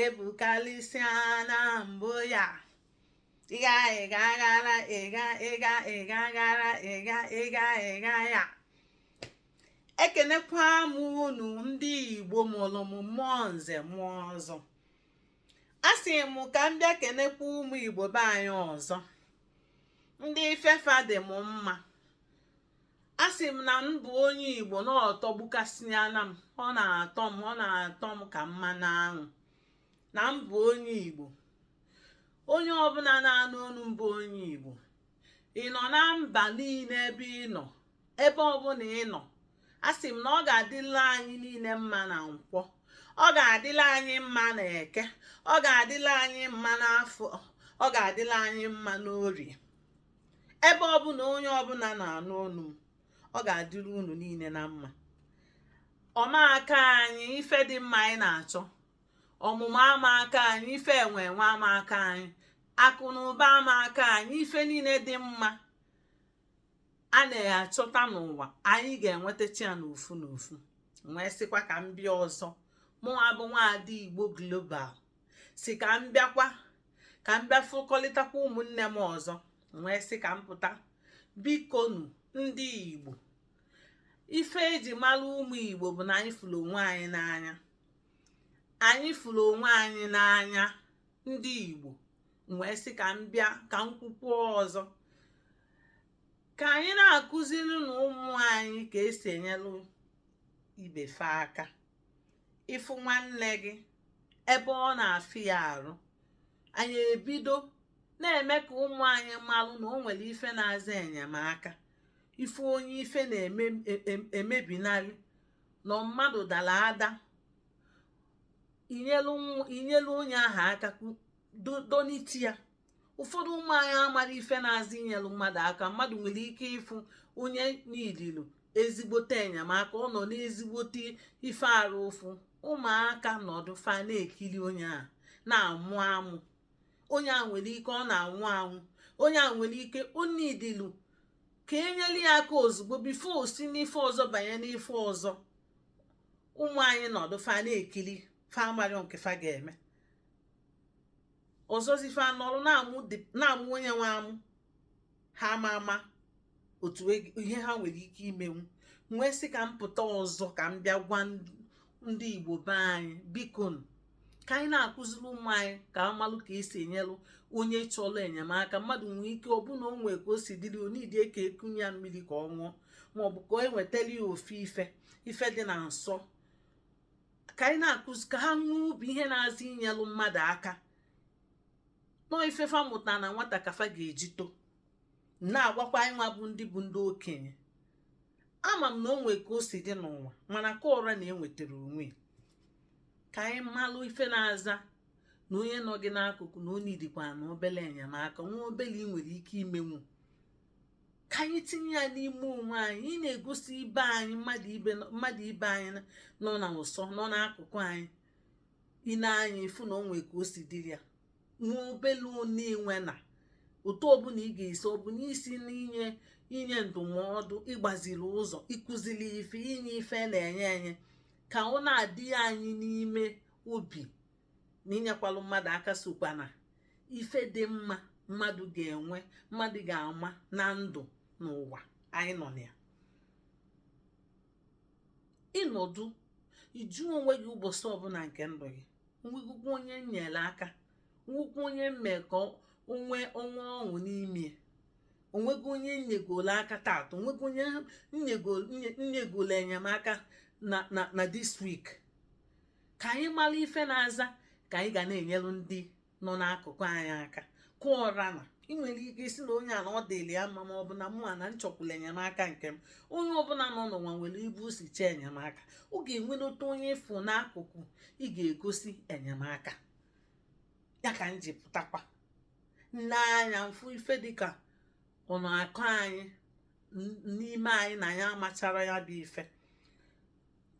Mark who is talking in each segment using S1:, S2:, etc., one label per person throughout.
S1: ebukarịsịa na mbụ ya ịga gara ya ekenekwa m unu ndị igbo mụrụ m mụọ nze mụọ ọzọ a sị m ka m bịa kenekwa ụmụ igbo be anyị ọzọ ndị ife fa dị m mma a sị m na m bụ onye igbo na ọ tọgbukasịana m ọ na-atọ m ka mmanụ aṅụ na m bụ onye igbo onye ọbụla na-anụ olu m bụ onye igbo ị nọ na mba niile ebe ị nọ ebe ọbụla ị nọ a sị m na ọ ga-adịla anyị niile mma na nkwọ ọ ga-adịla anyị mma na eke ọ ga-adịla anyị mma n'afọ ọ ga-adịla anyị mma n'orie ebe ọbụla onye ọbụla na-anụ onu m ọ ga-adịrị unu niile na mma ọ ma akọ anyị ife dị mma anyị na-achọ ọmụmụ ama akọ anyị ife enwe enwe ama akọ anyị akụ na ụba ama akọ anyị ife niile dị mma a na-achọta n'ụwa anyị ga-enwetacha ya n'ofu n'ofu wee sịkwa ka m bịa ọzọ mụnwa bụ nwaada igbo global sị ka m bịakwa ka m bịa fụkọlịtakwa ụmụnne m ọzọ wee sị ka m pụta bikonu ndị igbo ife eji mara ụmụ igbo bụ na anyị fụrụ onwe anyị n'anya anyị fụrụ onwe anyị n'anya ndị igbo wee sị ka m bịa ka m kwukwuo ọzọ ka anyị na-akụzirinụ ụmụ anyị ka esi enyelu ibe fa aka ị fụ nwanne gị ebe ọ na-afịa ya arụ anyị ebido na-eme ka ụmụ anyị malụ na o nwere ife na-aza enyemaka ị fụ onye ife na-emebinarị e, e, na mmadụ dara ada i nyelu onye ahụ aka dọnite ya ụfọdụ ụmụ anyị amarọ ife na-aza inyelu mmadụ aka mmadụ nwere ike ịfụ onye needilu ezigbote enyemaka ọ nọ n'ezigbote ife arụ ụfụ ụmụaka nọdụ fa na-ekiri onye a na-amụ amụ onye a nwere ike ọ na-anwụ anwụ onye a nwere ike o needilu ka enyere ya aka ozugbo before o si n'ife ọzọ banye n'ife ọzọ ụmụ anyị nọdụ fa na-ekiri fa amarọ nke fa ga-eme ọzọzi fa anọrọ na-amụ onye nwe amụ ha ama ama otu e, ihe ha nwere ike imenwu wee sị ka m pụta ọzọ ka m bịa gwa ndị igbo be anyị bikonu ka anyị na-akụziri ụmụ anyị ka a malụ ka esi enyelụ onye chọrọ enyemaka mmadụ nwee ike ọ bụ na o nwee ka o si dịrị o needie ka e kunye ya mmiri ka ọ ṅụọ maọbụ ka e wetara ya ofu ife ife dị na nso ka anyị na-akụzi ka ha nwee obi ihe na-aza inyelụ mmadụ aka na ọọ ife fa mụta na nwata ka fa ga-eji too na-agwakwa anyị nwa bụ ndị bụ ndị okenye ama m na o nwee ka o si dị n'ụwa mana ka ụra na-enwetara onwe ka anyị malụ ife na-aza na onye nọ gị n'akụkụ na o needikwa na obele enyemaka nwa obele ị nwere ike imenwu ka anyị tinye ya n'ime onwe anyị ị na-egosi ibe anyị mmadụ ibe anyị nọ na ụsọ nọ n'akụkụ anyị ine anya ịfụ na o nwee ka o si dịrị ya nwa obele onye enwe na otu ọbụla ị ga-esi ọbụna isi n'inye ndụmọdụ ịgbaziri ụzọ ịkụziri ife inye ife na-enye enye ka ọ na-adị anyị n'ime obi na inyekwalụ mmadụ aka sokwa na ife dị mma mmadụ ga-enwe mmadụ ga-ama na ndụ n'ụwa anyị nọ na ya ị nọdụ ị jụọ onwe gị ụbọchị ọbụla nke ndụ gị o nwegokwa onye m nyere aka o nwekwa onye m mee ka o nwee ọṅụ n'ime o nwego onye m nyegolo aka taata o nwego onye m nyegolo enyemaka na na na this week ka anyị mara ife na-aza ka anyị ga na-enyelu ndị nọ n'akụkụ anyị aka kụọra na ị nwere ike ịsị na onye a na ọ dịrị ya mma ma ọ bụ na mụwa na m chọkwulu enyemaka nke m onye ọbụla nọ n'ụwa nwere ebe o si chọọ enyemaka ọ ga-enwenata onye ị fụ n'akụkụ ị ga-egosi enyemaka ya ka m ji pụtakwa m nee anya m fụ ife dịka ọ na-akọ anyị n'ime anyị na anyị amachara ya bụ ife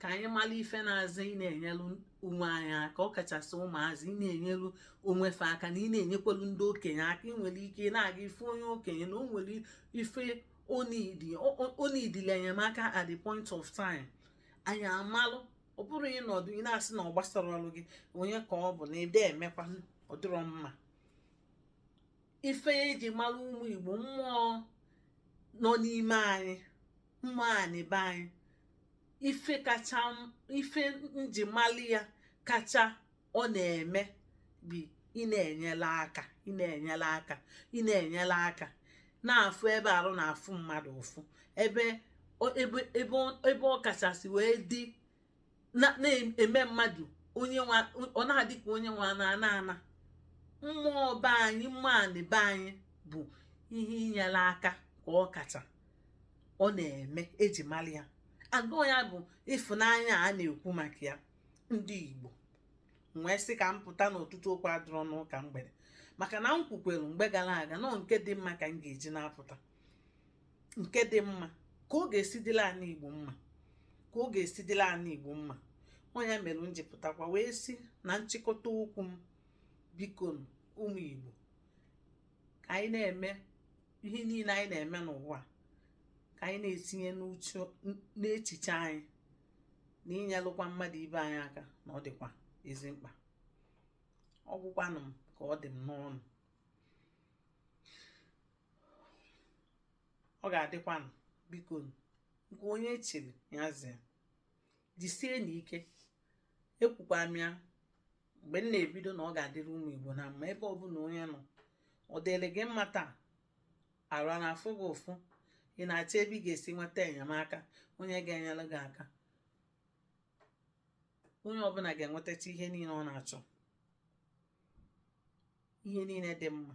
S1: ka anyị mara ife na-aza ị na-enyelu onwe anyị aka ọ kachasị ụmụazị ị na-enyelu onwe fa aka na ị na-enyekwelu ndị okenye aka ị nwere ike na-aga ị fụ onye okenye na o nwere ife o needili enyemaka at the point of time anyị amalụ ọ bụrụ ịnọdụ ị na-asị na ọ gbasarọlụ gị onye ka ọ bụ na ede emekwa ọ dịrọ mma ife eji mara ụmụ Igbo mmụọ nọ n'ime anyị mmụọ anị be anyị ife kacha ife njimali ya kacha ọ na-eme bụ ị na-enyere aka ị na-enyere aka ị na-enyere aka na-afụ ebe arụ na-afụ mmadụ ụfụ ebe ebe ebe ọ kachasị wee dị na-eme mmadụ ọ na-adị ka onye nwa na ana ana mmụọ be anyị mmụọ anị be anyị bụ ihe inyere aka ka ọ kacha ọ na-eme eji mara ya agwa ya bụ ịfụnanya a na-ekwu maka ya ndị Igbo wee sị ka m pụta n'ụtụtụ okwu adịrọ n'ụka mgbede maka na m kwukwere mgbe gara aga na ọ nke dị mma ka m ga-eji na-apụta nke dị mma ka ọ ga-esi dịla ana igbo mma ka ọ ga-esi dịla ana igbo mma ọ nya mere m ji pụtakwa wee sị na nchịkọta okwu m biko ụmụ igbo ka anyị na-eme ihe niile anyị na-eme n'ụwa ka anyị na-etinye n'echiche anyị na inyelụkwa mmadụ ibe anyị aka na ọ dịkwa ezi mkpa ọ gwụkwanụ m ka ọ dị m n'ọnụ ọ ga-adịkwanụ biko nke onye chiri ya zee jisie n'ike ekwukwa m ya mgbe m na-ebido na ọ ga-adịrị ụmụ igbo na mma ebe ọbụla onye nọ ọ dịrị gị mma taa arụ a na-afụ gị ụfụ ị na-achọ ebe ị ga-esi nweta enyemaka onye ga-enyere gị aka onye ọbụla ga-enwetacha ihe niile ọ na-achọ ihe niile dị mma